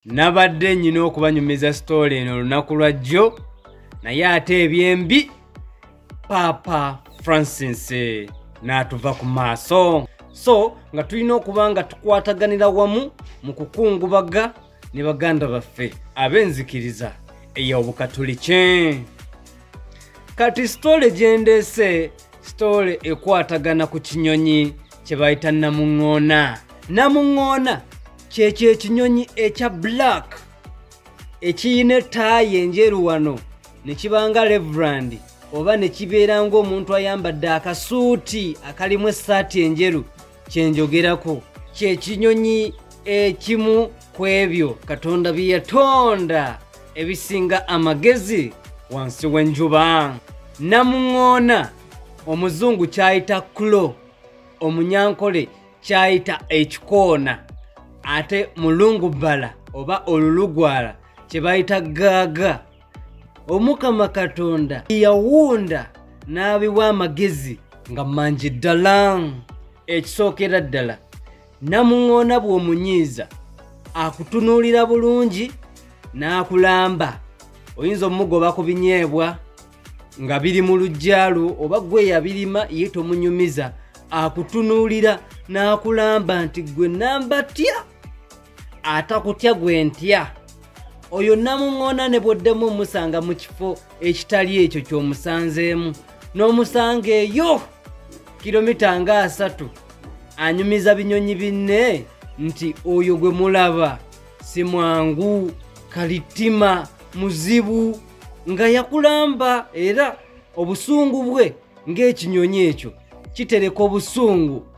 nabadde nyina okubanyumiza sitoola eno olunaku lwa jjo naye ate ebyembi paapa francis n'atuva ku maaso so nga tulina okuba nga tukwataganira wamu mu kukungubaga ne baganda baffe ab'enzikiriza ey'obukatuliki kati sitole gyendeese sitoole ekwatagana ku kinyonyi kye bayita namuŋŋoona namuŋŋoona kyekyo ekinyonyi ekya black ekiyina etaayi enjeru wano ne kibanga reverand oba ne kibeera ng'omuntu ayambadde akasuuti akalimu essaati enjeru kyenjogerako kyekinyonyi ekimu ku ebyo katonda bye yatonda ebisinga amagezi wansi w'enjuba namuŋoona omuzungu kyayita kulo omunyankole kyayita ekikoona ate mulungu bbala oba olulugwala kye bayita gaaga omukama katonda yawunda n'abiwa amagezi nga mangi ddala ekisookera ddala namuŋoona bw'omunyiiza akutunuulira bulungi n'akulamba oyinza omugoba ku binyeebwa nga biri mu luggyalwo oba gwe yabirima ye tomunyumiza akutunuulira n'akulamba nti gwe namba tya atakutya gwe ntya oyo namuŋŋoona ne bw'oddemu omusanga mu kifo ekitali ekyo ky'omusanzeemu n'omusanga eyo kilomita nga asatu anyumiza binyonyi binne nti oyo gwe mulaba si mwangu kalittima muzibu nga yakulamba era obusungu bwe ng'ekinyonyi ekyo kitereka obusungu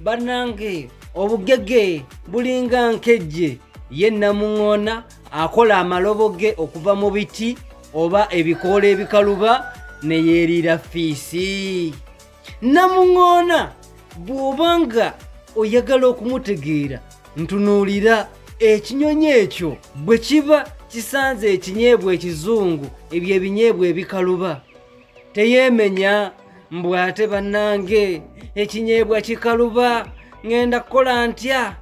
banange obugege bulinga nkejje ye namuŋoona akola amalobo ge okuva mu biti oba ebikoola ebikaluba ne yeeriira fiisi namuŋoona bw'oba nga oyagala okumutegeera ntunuulira ekinyonyi ekyo bwe kiba kisanze ekinyeebwa ekizungu ebyo ebinyeebwa ebikaluba teyemenya mbu ate bannange ekinyeebwa kikaluba ŋenda kukola ntya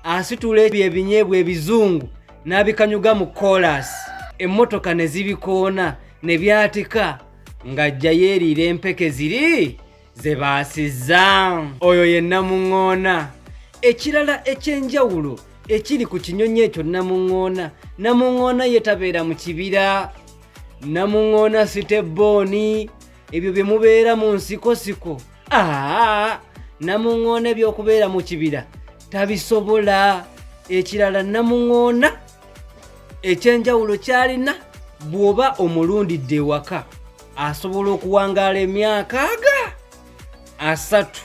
asitula ebyo ebinyeebwa ebizungu n'abikanyuga mu koolasi emmotoka ne zibikoona ne byatika ng'ajjayo eriira empeke ziri ze baasizza oyo ye namuŋŋoona ekirala eky'enjawulo ekiri ku kinyonyi ekyo namuŋŋoona namuŋŋoona ye tabeera mu kibira namuŋŋoona sitebbooni ebyo bye mubeera mu nsikosiko aa namuŋŋoona eby'okubeera mu kibira tabisobola ekirala namuŋŋoona ekyenjawulo kyalina bw'oba omulundidde ewaka asobola okuwangaala emyaka aga asatu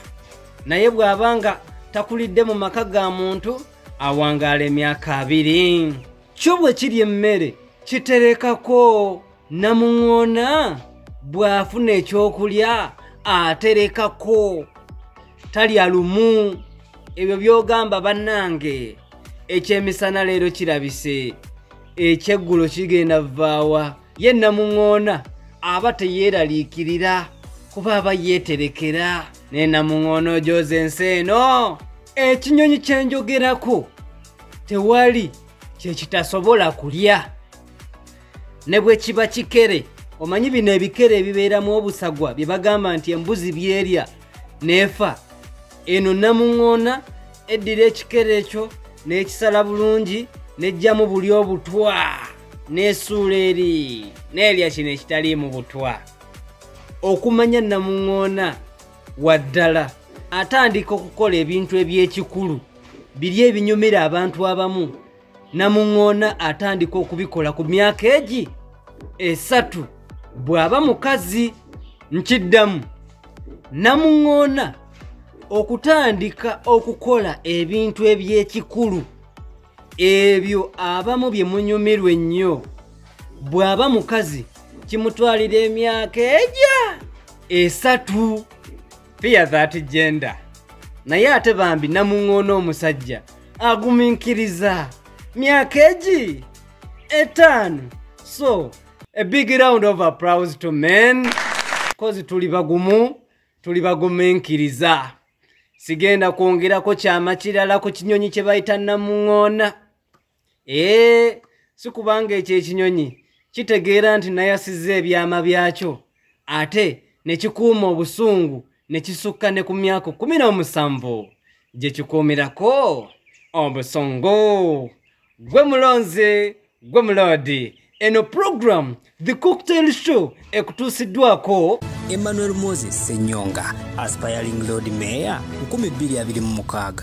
naye bw'aba nga takulidde mu maka ga muntu awangaala emyaka abiri kyo bwe kiri emmere kiterekako namuŋoona bw'afuna ekyokulya aterekako talya lumu ebyo by'ogamba bannange ekyemisana leero kirabise ekyeggulo kigenda vvaawa ye namuŋoona aba teyeeraliikirira kuba aba yeeterekera ne namuŋoona ojooza ensi eno ekinyonyi kye njogerako tewali kye kitasobola kulya ne bwe kiba kikere omanyi bino ebikere ebibeeramu obusagwa bye bagamba nti embuzi byerya neefa eno namuŋoona eddira ekikere ekyo n'ekisala bulungi n'eggyamu buli obutwa n'esuula eri n'erya kino ekitaliimu butwa okumanya namuŋoona waddala atandika okukola ebintu eby'ekikulu biri ebinyumira abantu abamu namuŋoona atandika okubikola ku myaka egi esatu bw'aba mukazi nkiddamu namuŋoona okutandika okukola ebintu eby'ekikulu ebyo abamu bye munyumirwa ennyo bw'aba mukazi kimutwalira emyaka egya esatu fiya that gender naye ate bambi namuŋoona omusajja aguminkiriza myaka egi etaano so a big round of applause to men kozi tuli bagumu tuli baguminkiriza sigenda kwongerako kyama kirala ku kinyonyi kye bayita namuŋoona ee si kubanga ekyo ekinyonyi kitegeera nti nayasizza ebyama byakyo ate ne kikuuma obusungu ne kisukka ne ku myaka kumi n'omusanvu gye kikuumirako obusungu gwe mulonzi gwe muloodi eno pulogulaamu the cocktail show ekutuusiddwako emmanuel moses senyonga aspiring lord mayor 226